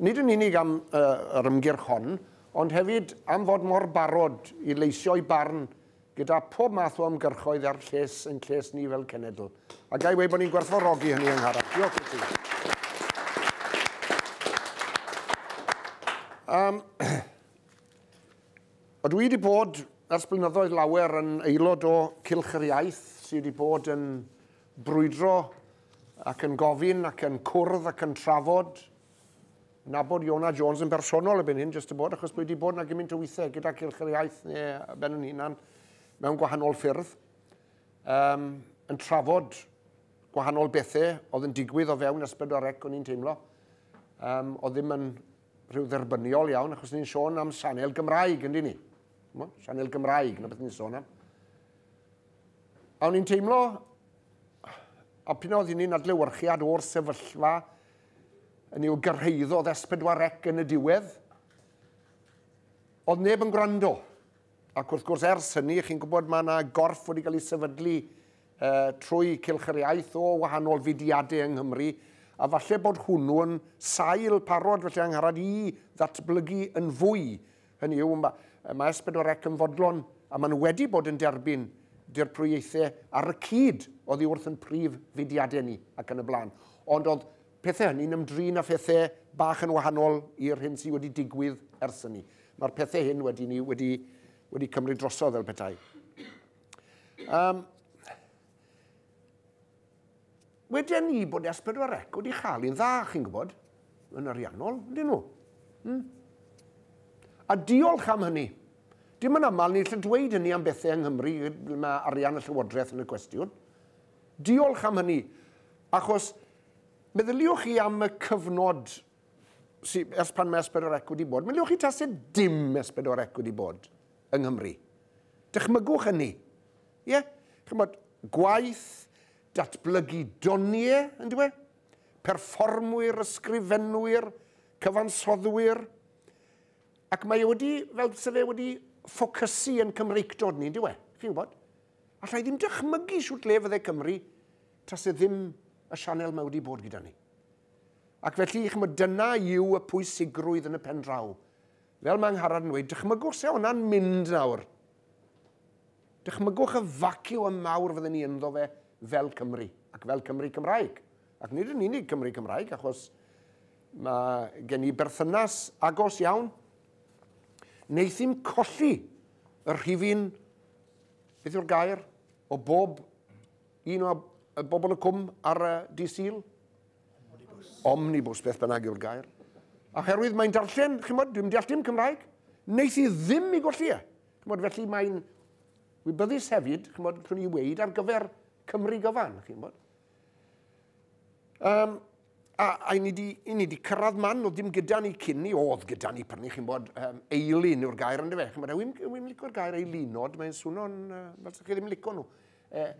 Nid yn unig am yr ymgyrch hon, ond hefyd am fod mor barod i leisio'i barn gyda phob math o ymgyrchoedd a'r lles ein lles ni fel cenedl. A ga i weud bod ni'n gwerthfawrogi hynny, Angharad. Diolch i ti. Um, o dwi wedi bod ers blynyddoedd lawer yn aelod o Cylch yr Iaith sydd wedi bod yn brwydro ac yn gofyn ac yn cwrdd ac yn trafod. Nabod Iona Jones yn bersonol y byn hyn, jyst y bod, achos bod wedi bod yna gymaint o weithiau gyda Cylch yr Iaith neu ben yn hunan mewn gwahanol ffyrdd, um, yn trafod gwahanol bethau oedd yn digwydd o fewn ysbryd o'r rec o'n i'n teimlo. Um, oedd ddim yn rhyw dderbyniol iawn, achos ni'n sôn am sanel Gymraeg, ynddi ni? Sianel Gymraeg, na beth ni'n sôn am. A o'n i'n teimlo, a pyn oedd hynny'n adlewyrchiad o'r sefyllfa, yn i'w gyrhaeddodd S4C yn y diwedd, oedd neb yn gwrando. Ac wrth gwrs, ers hynny, chi'n gwybod mae yna gorff wedi cael ei sefydlu e, trwy Cilch yr Iaith o wahanol fudiadau yng Nghymru, a falle bod hwnnw'n sail parod felly angharad i ddatblygu yn fwy Hynny yw, mae mae S pedwar Ec yn fodlon, a maen nhw wedi bod yn derbyn dirprwyaethau ar y cyd oddi wrth yn prif fudiadau ni ac yn y blaen. Ond oedd pethau hynny'n ymdrin â phethau bach yn wahanol i'r hyn sydd wedi digwydd ers hynny. Mae'r pethau hyn wedi ni wedi, wedi cymryd drosodd fel petai. Um, Weden ni bod S4 C wedi chael un dda, chi'n gwybod, yn ariannol, ydyn nhw? Hmm. A diolch am hynny. Dim yn aml ni'n lle dweud hynny am bethau yng Nghymru lle mae arian y Llywodraeth yn y cwestiwn. Diolch am hynny, achos meddyliwch chi am y cyfnod sy, ers pan mae S4 C wedi bod, meddyliwch chi tase dim S4 C wedi bod yng Nghymru. Dychmygwch hynny. Ie, ch'mod, gwaith datblygu doniau, yndyw e? Perfformwyr, ysgrifenwyr, cyfansoddwyr. Ac mae e wedi, fel byse fe wedi ffocysu yn Cymreictod ni, yndyw e? Chi'n gwybod? Alla i ddim dychmygu shwt le fydde Cymru tase ddim y sianel mae wedi bod gyda ni. Ac felly, ch'mod, dyna yw y pwysigrwydd yn y pen draw. Fel mae Angharad yn dweud, dychmygwch se hwnna'n mynd nawr. Dychmygwch y vacuum mawr fydden ni ynddo fe fel Cymry, ac fel Cymry Cymraeg. Ac nid yn unig Cymry Cymraeg, achos mae gen i berthynas agos iawn. Neithi'n colli y rhifyn, beth yw'r gair, o bob un o y bobl y cwm ar y di syl? Omnibus. Omnibus, beth bynnag yw'r gair. Oherwydd mae'n darllen, chymod, dwi'n deall dim Cymraeg, neith i ddim i golli e. Chymod, felly mae'n wybyddus hefyd, chymod, rhywun i weid ar gyfer Cymru gyfan, chymod. Um, a, a ni di, i ni wedi cyrraedd man, oedd ddim gyda ni cyn ni, oedd gyda ni pan ni, chi'n bod, um, eilun yw'r gair yn dyfa. Chi'n bod, yw'n yw licio'r gair eilunod, mae'n swno'n, uh, fel sy'ch chi ddim licio nhw. Uh,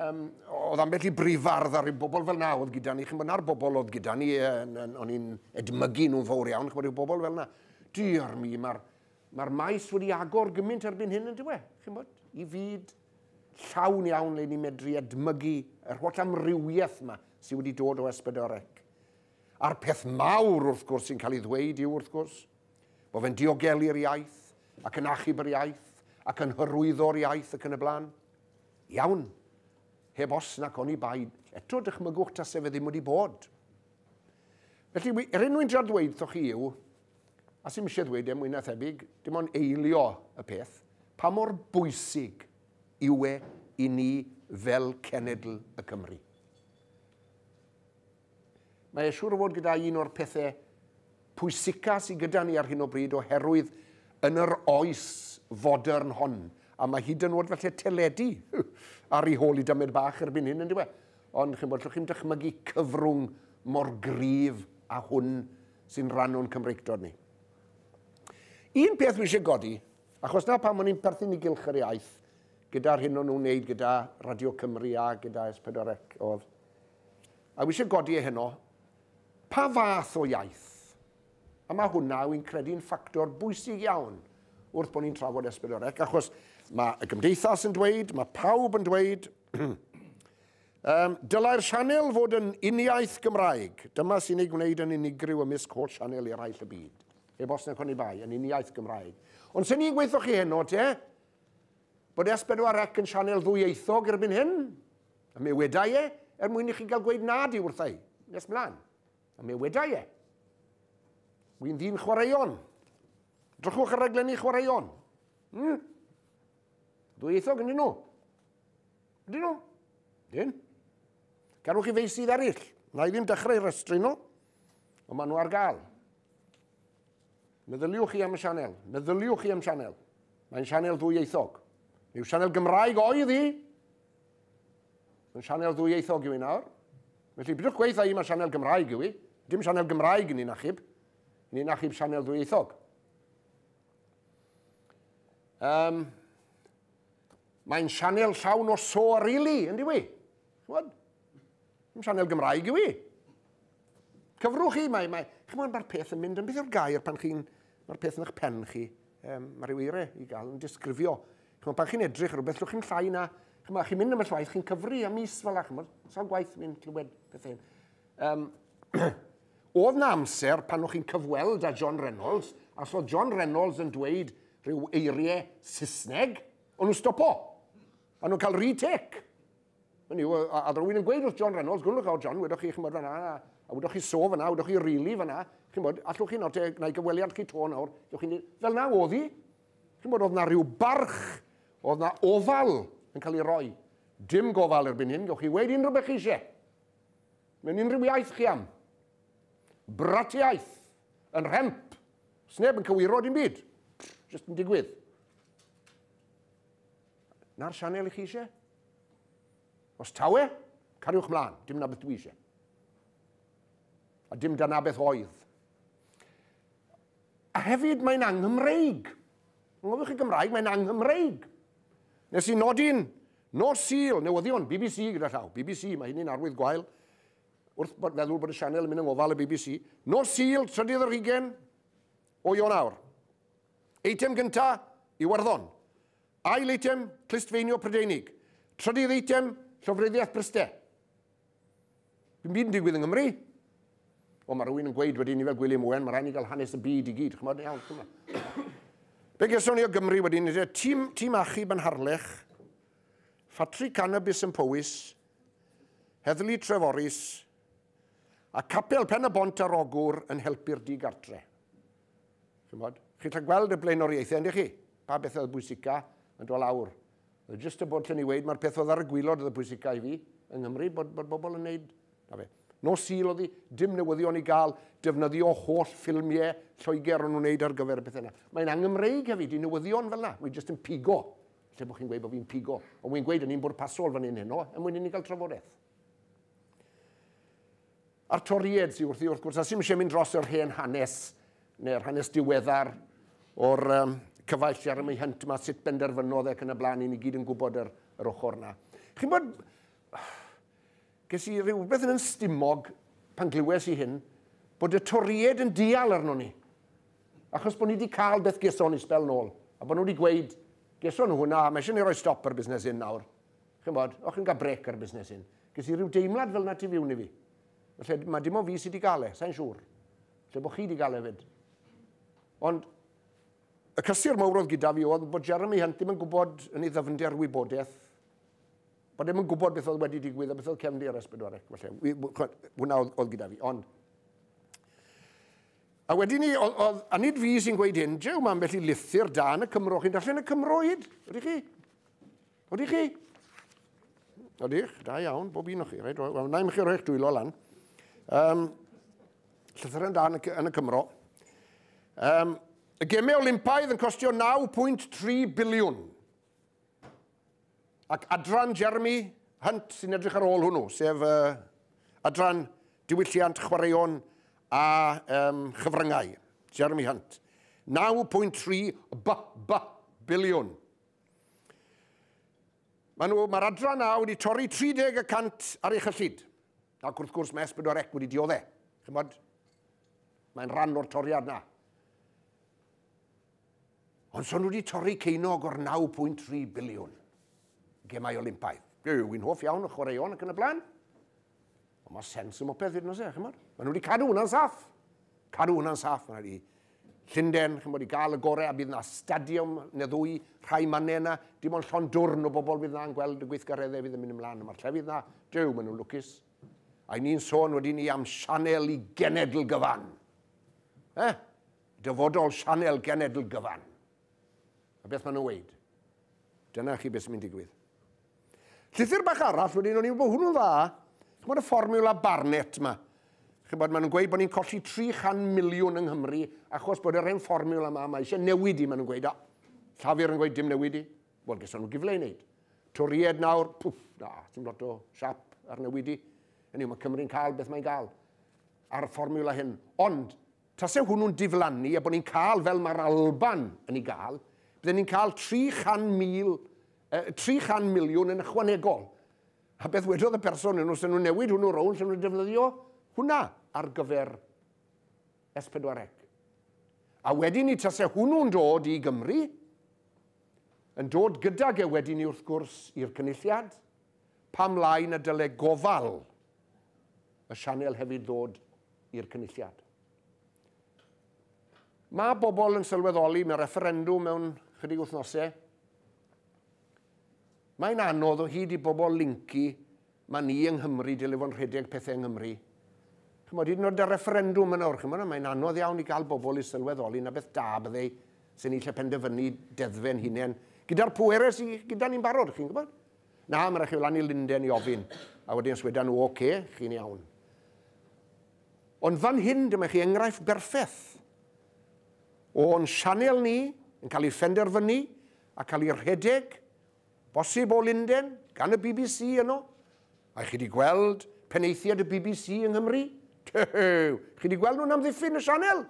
um, oedd ambell i brifardd ar y bobl fel na oedd gyda ni, chi'n bod, na'r bobl oedd gyda ni, uh, o'n i'n edmygu nhw'n fawr iawn, chi'n bod, yw bobl fel na. Diar mi, mae'r Mae'r maes wedi agor gymaint erbyn hyn, yndyw e, chi'n bod, i fyd llawn iawn le ni'n medru edmygu yr holl amrywiaeth yma sydd wedi dod o Esbydorec. A'r peth mawr, wrth gwrs, sy'n cael ei ddweud yw, wrth gwrs, bod fe'n diogelu'r iaith ac yn achub yr iaith ac yn hyrwyddo'r iaith ac yn y blaen. Iawn, heb os nac oni bai, eto dychmygwch tase fe ddim wedi bod. Felly, er enw i'n dra ddweud wrthoch chi yw, a sy'm eisiau ddweud e mwy na thebyg, dim ond eilio y peth, pa mor bwysig yw e i ni fel cenedl y Cymry. Mae e siŵr o fod gyda un o'r pethau pwysica sydd gyda ni ar hyn o bryd oherwydd yn yr oes fodern hon, a mae hyd yn oed felly teledu ar ei hôl i dymed bach erbyn hyn yn diwedd. Ond chi'n bod, llwch chi'n dychmygu cyfrwng mor gryf a hwn sy'n rhan o'n Cymreictod ni. Un peth wisio godi, achos na pam o'n i'n perthyn i gylch yr iaith, gyda'r hyn o'n nhw'n wneud gyda Radio Cymru a gyda S4C oedd, a wisio godi e heno, pa fath o iaith? A mae hwnna, wy'n credu'n ffactor bwysig iawn wrth bod ni'n trafod esbyd o'r ec, achos mae y gymdeithas yn dweud, mae pawb yn dweud, Yym, dylai'r sianel fod yn uniaith Gymraeg. Dyma sy'n ei gwneud yn unigryw ymysg holl sianel eraill y byd. Heb os nag oni bai, yn uniaith Gymraeg. Ond sy'n ni'n gweithio chi heno, te? Bod S4C yn sianel ddwyieithog erbyn hyn? A mi wedai e, er mwyn i chi gael gweud na di wrtha i. Nes mlaen. A mi wedai e. Wy'n ddyn chwaraeon. Drychwch ar raglenni chwaraeon. Hmm? Ddwyieithog yn nhw. Ydyn nhw? Dyn. Cerwch i feisydd eraill. Na i ddim dechrau rhestru nhw, ond maen nhw ar gael. Meddyliwch chi am y sianel. Meddyliwch chi am sianel. Mae'n sianel ddwyieithog. Yw sianel Gymraeg oedd hi? Mae'n sianel ddwyieithog yw i nawr. Felly, bydwch gweitha i mae sianel Gymraeg yw i. Dim sianel Gymraeg yn un achub. Yn un achub sianel ddwyieithog. Um, Mae'n sianel llawn o so a rili, yn diwy. Chymod? Mae'n sianel Gymraeg yw i. Cyfrwch chi, mae, mae, chymod, mae'r peth yn mynd yn beth yw'r gair pan chi'n, mae'r peth yn eich pen chi, um, mae rhyw eire i gael yn disgrifio. Chymod, pan chi'n edrych ar rhywbeth, llwch chi'n llai na, chymod, chi'n mynd am y llwaith, chi'n cyfru am mis fel a, chymod, sawl gwaith mi'n clywed pethau hyn. Um, oedd na amser pan o'ch chi'n cyfweld â John Reynolds, a so John Reynolds yn dweud, Rhyw eirie Saesneg, o'n nhw'n stopo. O'n nhw'n cael retake. Yn yw, a, a rwy'n yn gweud wrth John Reynolds, gwrlwch awr John, wedoch chi, chi'n bod fanna, a, a wedoch chi so fanna, wedoch chi rili really fanna, chi'n bod, allwch chi nawr, na i gyfweliad chi to nawr, chi'n dweud, fel na oedd hi, chi'n bod, oedd na rhyw barch, oedd na ofal yn cael ei roi. Dim gofal erbyn hyn, gawch chi weid unrhyw beth chi eisiau. Mewn unrhyw iaith chi am. Bratiaeth, yn rhemp, Sneb yn cywiro dim byd. Just yn digwydd. Na'r sianel i chi eisiau? Os tawe, cariwch mlaen. Dim na beth dwi eisiau. A dim da na beth oedd. A hefyd mae'n anghymreig. Yng Nghofiwch chi Gymraeg, mae'n anghymreig. Nes i nodi'n nos syl, newyddion, BBC gyda llaw. BBC, mae hynny'n arwydd gwael. wrth feddwl bod y sianel yn mynd yng ngofal y bbc. Nos Sul, trydydd yr hugen o Ionawr. Eitem gynta, Iwerddon. Ail eitem, Clustfeinio Prydeinig. Trydydd eitem, Llofruddiaeth Bryste. Dim byd yn digwydd yng Nghymru. O, mae rhywun yn gweud wedyn ni fel Gwilym Owen, mae rhaid ni gael hanes y byd i gyd. Chymod, iawn, chymod. Be geson ni o Gymru wedyn, tîm, tîm achub yn Harlech, Ffatri Canabis yn Powys, Heddlu Treforys a Capel Pen-y-bont ar Ogwr yn helpu'r di-gartre'. Chimod? Chi'n gallu gweld y blaenoriaethau, yndych chi? Pa bethau oedd bwysica yn dod lawr? Oedd jyst y bod lle ni weid, mae'r peth oedd ar y gwylod oedd y bwysica i fi yng Nghymru, bod, bod bobl yn neud, na fe. Nos Sul oedd hi, dim newyddion i gael, defnyddio holl ffilmiau Lloegr o'n nhw'n neud ar gyfer y pethau yna. Mae'n angymreig hefyd i newyddion fel yna, mae jyst yn pigo Lle bod chi'n gweud bod fi'n pigo, ond wy'n gweud yn un bwrpasol fan hyn heno, er mwyn i ni gael trafodaeth. A'r Toried sy'n wrthi wrth gwrs, a sy'n eisiau mynd dros yr hen hanes, neu'r hanes diweddar o'r um, cyfaill sy'n ar y hynt yma, sut benderfynodd ac yn y blaen, i ni gyd yn gwybod yr, yr ochr yna. Chi'n bod, Ges i rywbeth yn 'yn stumog pan glywes i hyn, bod y Toried yn dial arnon ni, achos bod ni 'di cael beth geson ni sbel nôl, a bod nhw 'di gweud, geson nhw hwnna, a mae eisiau ni roi stop ar busnes hyn nawr. Ch'mbod, o'ch chi'n cael brêc ar busnes hyn. Ges i ryw deimlad fel 'na tu fiwn i fi. Falle mae dim ond fi sydd 'di cael e, sa'n siŵr. Falle bod chi 'di cael e fyd. Ond y cysur mawr oedd gyda fi oedd bod Jeremy Hunt ddim yn gwybod yn ei ddyfnder wybodaeth Bod ddim yn gwybod beth oedd wedi digwydd a beth oedd cefndir ar esbedwarec, falle. Hwna oedd, oedd gyda fi, ond... A wedyn ni, oedd, oedd, a nid fi sy'n gweud hyn, jew mae ambell i lythyr da yn y Cymro, chi'n darllen y Cymro hyd, ydych chi? Ydych chi? Ydych, da iawn, bob un o chi, reit, wel, na i chi roi'ch dwylo lan. Um, llythyr yn da yn y, yn y Cymro. Um, y gemau Olympaidd yn costio 9.3 biliwn. Ac adran Jeremy Hunt sy'n edrych ar ôl hwnnw, sef uh, adran diwylliant chwaraeon a um, chyfryngau, Jeremy Hunt. 9.3 b, b, biliwn. Mae'r nhw, mae adran A wedi torri 30 y cant ar ei chyllid. Ac wrth gwrs mae S4 Ec wedi diodde. Chymod, mae'n rhan o'r toriad na. Ond son nhw wedi torri ceinog o'r 9.3 biliwn gemau Olympaidd. Dwi yn hoff iawn o chwaraeon ac yn y blaen. Ond mae sens yn mopeth hyd nos e, chymod. Mae nhw wedi cadw hwnna'n saff. Cadw hwnna'n saff. Mae wedi Llundain, chymod, i gael y gorau a bydd yna stadiwm neu ddwy, rhai mannau yna. Dim ond llon dwrn o bobl fydd yna'n gweld y gweithgareddau fydd yn mynd ymlaen. Mae'r llefydd yna, dew, maen nhw'n lwcus. A i ni'n sôn wedyn ni am sianel i genedl gyfan. Eh? Dyfodol sianel genedl gyfan. A beth maen nhw'n weid? Dyna chi beth sy'n mynd digwydd. Llythyr bach arall wedyn, o'n i'n bod hwnnw'n dda. Chi'n bod y fformula Barnett yma. Chi'n bod, maen nhw'n gweud bod ni'n colli 300 miliwn yng Nghymru achos bod yr hen fformula yma, mae eisiau newid i, maen nhw'n gweud. O, Llafur yn gweud dim newid i. Wel, gyson nhw gyfle i wneud. Toried nawr, pwff, na, sy'n lot o siap ar newid i. Yn yw, mae Cymru'n cael beth mae'n gael ar y fformula hyn. Ond, Tase hwnnw'n diflannu a bod ni'n cael fel mae'r Alban yn ei gael, bydden ni'n cael 300,000, uh, 300 miliwn yn ychwanegol. A beth wedodd y person yn nhw, sy'n nhw'n newid hwnnw rownd, sy'n nhw'n defnyddio hwnna ar gyfer S4C. A wedyn ni tase hwnnw'n dod i Gymru, yn dod gydag e wedyn ni wrth gwrs i'r cynulliad, pam lai na dyle gofal y sianel hefyd ddod i'r Cynulliad. Mae bobl yn sylweddoli mewn refferendwm mewn chydig wythnosau. Mae'n anodd o hyd i bobl lincu mae ni yng Nghymru, dyle fo'n rhedeg pethau yng Nghymru. Chymod, hyd yn oed y refferendwm yn awr, chymod, mae'n anodd iawn i gael bobl i sylweddoli na beth da byddai sy'n ni lle penderfynu deddfe'n hunain gyda'r pwerau sydd gyda ni'n barod, chi'n gwybod? Na, mae'n rhaid chi fynd lan i Lunden i ofyn. A wedyn os weda nhw, oce, chi'n iawn. Ond fan hyn, dyma chi enghraifft berffeth o'n sianel ni yn cael ei phenderfynu a cael ei rhedeg, bosib o Lunden, gan y BBC yno. A chi wedi gweld peneithiad y BBC yng Nghymru? Tew, chi wedi gweld nhw'n amddiffyn y sianel?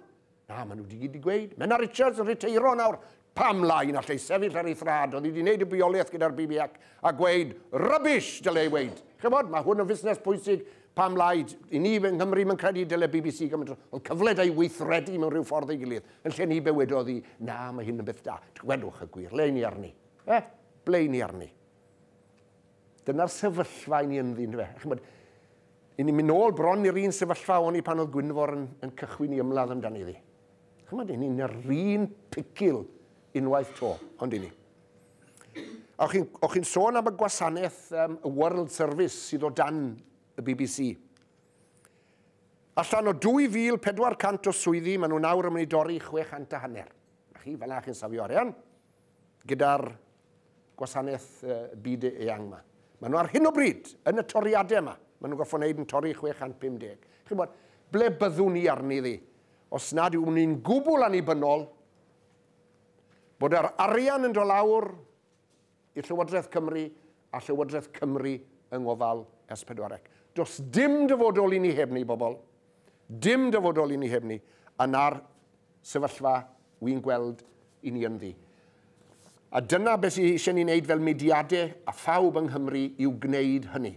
Na, maen nhw wedi gyd i gweud. Menna Richards yn rhiteiro nawr. Pam lai na lle sefyll ar ei thrad, oedd hi wedi gwneud y bioleaeth gyda'r BB ac a gweud, rubbish, dyle ei weid. Chymod, mae hwn yn fusnes pwysig, pam lai, i ni yng Nghymru mae'n credu dyle BBC gymaint oedd cyfle da i weithredu mewn rhyw ffordd ei gilydd, yn lle ni bewedodd hi, na, mae hyn yn beth da. Gwedwch y gwir, le ni arni? Eh, ble ni arni? Dyna'r sefyllfa i ni ynddi, yn dyfe? Chymod, i ni'n mynd nôl bron i'r un sefyllfa o'n i pan oedd Gwynfor yn, yn cychwyn i ymladd amdani ddi. Chymod, i ni'n yr un picil unwaith to, ond i ni. A o'ch chi'n chi sôn am y gwasanaeth um, y World Service sydd o dan y BBC. Allan o 2,400 o swyddi, maen nhw'n awr yn mynd i dorri 600 a hanner. A chi, fel na chi'n safio arian, gyda'r gwasanaeth y byd eang yma. Maen nhw ar hyn o bryd, yn y toriadau yma, maen nhw'n goffo'n neud yn torri 650. Chi'n bod, ble byddwn ni arni ddi? Os nad yw'n ni'n gwbl annibynnol, bod yr arian yn dolawr i Llywodraeth Cymru a Llywodraeth Cymru yng ngofal S4C. Does dim dyfodol i ni heb ni, bobl. Dim dyfodol i ni heb ni. Yna'r sefyllfa wy'n gweld i ni ynddi. A dyna beth sydd eisiau ni wneud fel mudiadau a phawb yng Nghymru yw gwneud hynny.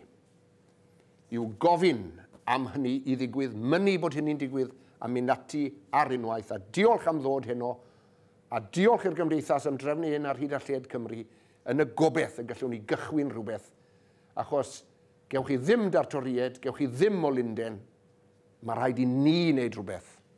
Yw gofyn am hynny i ddigwydd, mynnu bod hynny'n digwydd a mynd ati ar unwaith a diolch am ddod heno a diolch i'r Gymdeithas am drefnu hyn ar hyd a lled Cymru yn y gobeith y gallwn ni gychwyn rhywbeth achos gewch chi ddim dartoried, gewch chi ddim o Lunden, mae rhaid i ni wneud rhywbeth.